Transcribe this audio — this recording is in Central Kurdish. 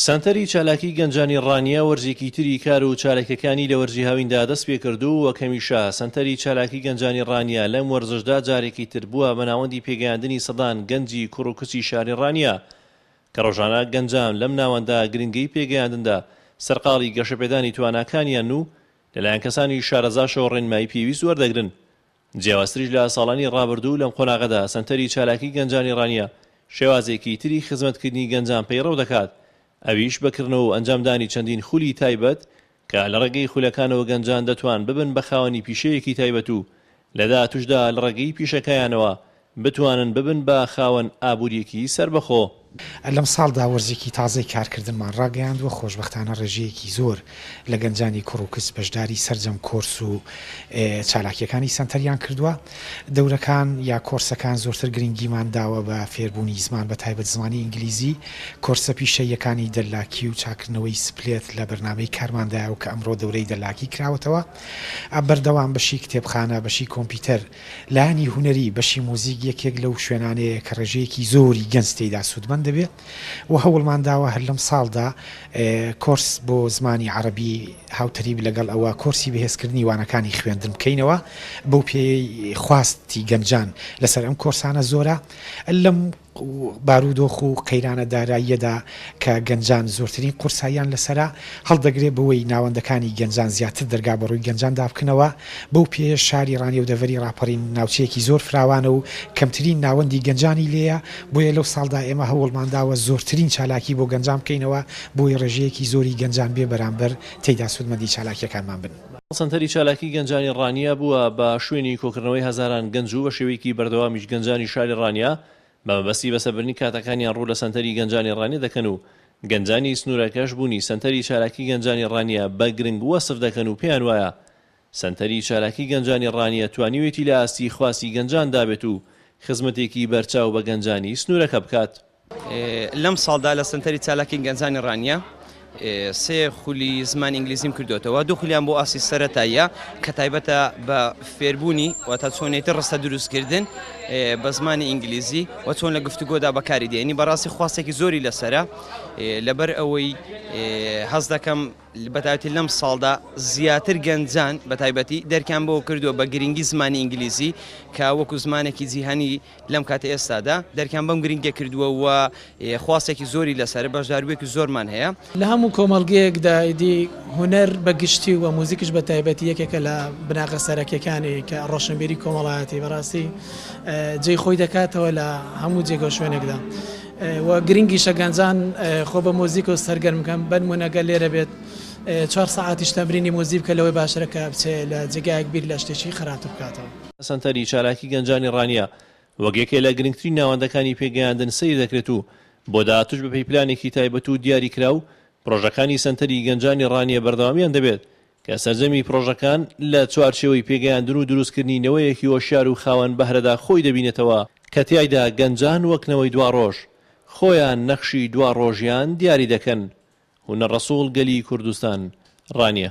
سەنتەری چالاکی گەنجانی ڕانیە وەرزێکی تری کار و چاالکەکانی لە وەرزی هاویندا دەست پێ کردوو وەک هەمیشە سەنتەری چالاکی گەنجانی ڕانیە لەم وەرزشدا جارێکی تر بووە بە ناوەندی پێگەیاندنی سەدان گەنجی کوڕ و کچی شاری ڕانیە کە ڕۆژانە گەنجان لەم ناوەندە گرنگەی پێگەیاندندا سەرقاڵی گەشەپێدانی تواناکانیانن و لەلایەن کەسانی شارەزاشەوە ڕێنمایی پێویست وەردەگرن جیاوازتریش لە ساڵانی ڕابردوو لەم قۆناغەدا سەنتەری چالاکی گەنجانی ڕانیە شێوازێکی تری خزمەتکردنی گەنجان پەیڕەو دەکات ئەویش بە کڕنەوە و ئەنجامدانی چەندین خولی تایبەت کە لە ڕێگەی خولەکانەوە گەنجان دەتوان ببن بە خاوەنی پیشەیەکی تایبەت و لە داهاتوشدا لە ڕێگەی پیشەکەیانەوە بتوانن ببن بە خاوەن ئابوورییەکی سەربەخۆ. لەم ساڵدا وەرزێکی تازەی کارکردنمان ڕاگەیاندووە، خۆشبەختانە ڕێژەیەکی زۆر لە گەنجانی کوڕ و کچ بەشداری سەرجەم کۆرس و چالاکییەکانی سەنتەریان کردووە. دەورەکان یا کۆرسەکان زۆرتر گرنگیمان داوە بە فێربوونی زمان بە تایبەت زمانی ئینگلیزی. کۆرسە پیشەییەکانی دەللاکی و چاککردنەوەی سپلێت لە بەرنامەی کارماندایە و کە ئەمڕۆ دەورەی دەللاکی کراوەتەوە. بەردەوام بەشی کتێبخانە، بەشی کۆمپیوتەر، لایەنی هونەری، بەشی موزیک یەکێک لەو شوێنانەیە کە ڕێژەیەکی زۆری گەنج تێیدا سوودمەند دەبێت و هەوڵمان داوە هەر لەمساڵدا کۆرس بۆ زمانی عەڕەبی هاوتەریب لەگەڵ ئەوە کۆرسی بەهێزکردنی وانەکانی خوێندن بکەینەوە بەو پێیەی خواستی گەنجان لەسەر ئەم کۆرسانە زۆرە لەم و بارودۆخ و قەیرانە داراییەدا کە گەنجان زۆرترین قورساییان لەسەرە، هەڵدەگرێ بەوەی ناوەندەکانی گەنجان زیاتر دەرگا بەڕووی گەنجاندا بکنەوە، بەو پێیەش شاری ڕانیە و دەڤەری ڕاپەڕین ناوچەیەکی زۆر فراوانە و کەمترین ناوەندی گەنجانی لێیە، بۆیە لەو ساڵدا ئێمە هەوڵمانداوە زۆرترین چالاکی بۆ گەنجان بکەینەوە بۆی ڕێژەیەکی زۆری گەنجان بێ بەرامبەر تێیدا سوودمەندی چالاکیەکانمان بن. سەنتەری چالاکی گەنجانی ڕانیە بووە بە شوێنی کۆکردنەوەی هەزاران گەنج و بە شێوەیەکی بەردەوامیش گەنجانی شاری ڕانیە بە مەبەستی بەسەربردنی کاتەکانیان ڕوو لە سەنتەری گەنجانی ڕانیە دەکەن و گەنجانی سنوورەکەش بوونی سەنتەری چالاکی گەنجانی ڕانیە بە گرنگ وەسف دەکەن و پێیان وایە سەنتەری چالاکی گەنجانی ڕانیە توانیوێتی لە ئاستی خواستی گەنجاندا بێت و خزمەتێکی بەرچاو بە گەنجانی سنوورەکە بکات. لەم ساڵدا لە سەنتەری چالاکی گەنجانی ڕانیە سێ خولی زمان ئینگلیزیم کردوێتەوە دوو خولیان بۆ ئاسی سەرەتاییە کە تایبەتە بە فێربوونی و تا چۆنێتی ڕستە دروستکردن بە زمانی ئینگلیزی و چۆن لە گفتوگۆدا بەکاری دێنی بەڕاستی خواستێکی زۆری لەسرە لەبەر ئەوەی هەز دەکەم بەتاتی لەم ساڵدا زیاتر گەنجان بە تایبەتی دەرکیان بۆ کردووە بە گرنگی زمانی ئینگلیزی کە وەکو زمانێکی جیهانی لەم کاتە ئێستادا دەرکیان بەم گرنگیە کردووە و خواستێکی زۆری لەسەرە، بەشداربووێکی زۆرمان هەیە. لە هەموو کۆمەڵگەیەکدا ئیدی هونەر بە گشتی و موزیکیش بە تایبەتی یەکێکە لە بناغە سەرەکیەکانی کە ڕۆشنبیری کۆمەڵایەتی بەڕاستی جێی خۆی دەکاتەوە لە هەموو جێگە و شوێنێکدا و گرنگیشە گەنجان خۆ بە موزیک و سەرگەرم بکەن بەنمونە گەر لێرە بێت چوار سەعاتیش تەمرینی موزیک بکە لەوەی باشترە کە بچێ لە جێگایەک بیر لە شتێکی خراپتر بکاتەوە. سەنتەری چالاکی گەنجانی ڕانیە وەک یەکێ لە گرنگترین ناوەندەکانی پێگەیاندن سەیر دەکرێت و بۆ داهاتووش بەپێی پلانێکی تایبەت و دیاریکراو پڕۆژەکانی سەنتەری گەنجانی ڕانیە بەردەوامیان دەبێت کە سەرجەمی پڕۆژەکان لە چوارچێوەی پێگەیاندن و دروستکردنی نەوەیەکی هۆشیار و خاوەن بەهرەدا خۆی دەبینێتەوە کە تیایدا گەنجان وەک نەوەی دواڕۆژ خۆیان نەخشی دواڕۆژیان دیاری دەکەن هونەر ڕەسوڵ گەلی کوردستان، ڕانیە.